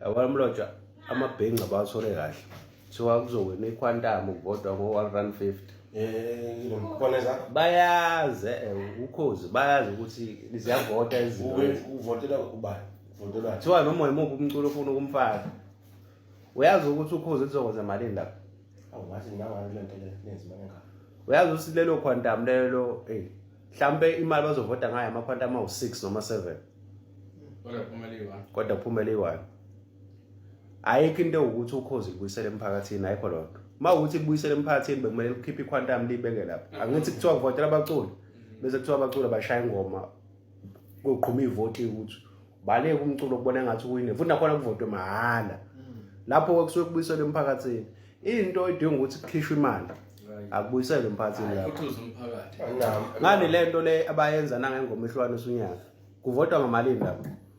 yabona mlotshwa amabhenci abawathole kahle kuthiwa kuzowina ikhwantamu kuvodwa ngo-one run fifty bayazi eh, ukhozi bayazi ukuthi ziyavota ezinto kuthiwa noma yimuphi umculo ofuna ukumfaka uyazi ukuthi ukhozi lizokwenza malini lapho awungathi nangani le nto le nenza imali engaka uyazi ukuthi lelo quantum lelo eyi mhlawumpe imali bazovota ngayo ama-quantum awu-six noma seven kodwa kuphumele iwayo ayikho into ewukuthi ukhozi libuyisele emphakathini ayikho loo nto uma ukuthi libuyisele emphakathini bekumele likhiphe iquantum libeke lapho angithi kuthiwa kuvotela abaculi bese kuthiwa abaculi bashaya ingoma kuyogquma ivoti ukuthi baleke umculo kubona ngathi uwine futhi nakhona kuvotwe mahhala mm. lapho ke kusuke kubuyiselwe emphakathini into edinga ukuthi kukhishwe imali akubuyiselwe emphakathini lapho ngani le nto le abayenza nangengoma ehlukane usunyaka kuvotwa ngamalini lapho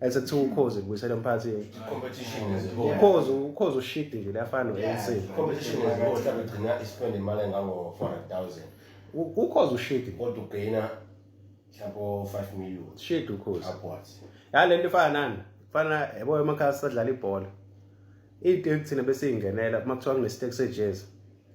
Ese kuthiwa ukhozi kubuyisela emphakathini. Competition is a whole. Ukhozi ukhozi ushidile lafana no-ANC. Competition is a whole. Mhlawumbe ugcina ispend imali engango-400,000 U- Ukhozi ushidi. kodwa ugaina mhlawumbe o-5 million Shidi ukhozi. upwards. Ya lento ifana nani? Fana yabo emakhaya sadlala ibhola. Into ekuthina besiyingenela uma kuthiwa kunestake sejezi.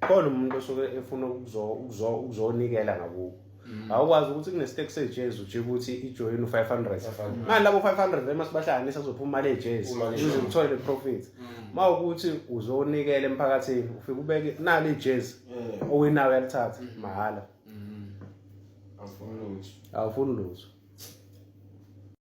khona umuntu osuke efuna ukuzonikela ngakubo mm. awukwazi ukuthi kunestake sejezi ujike ukuthi ijoyini u-five hundred mani labo five hundred uma sibahlanganisa kuzophuma imali ejezi ukuze uthole le profit uma mm. ukuthi uzonikela emphakathini ufike ubeke nalo ijezi owinayo uyalithatha mm. mahhala awufuni lutho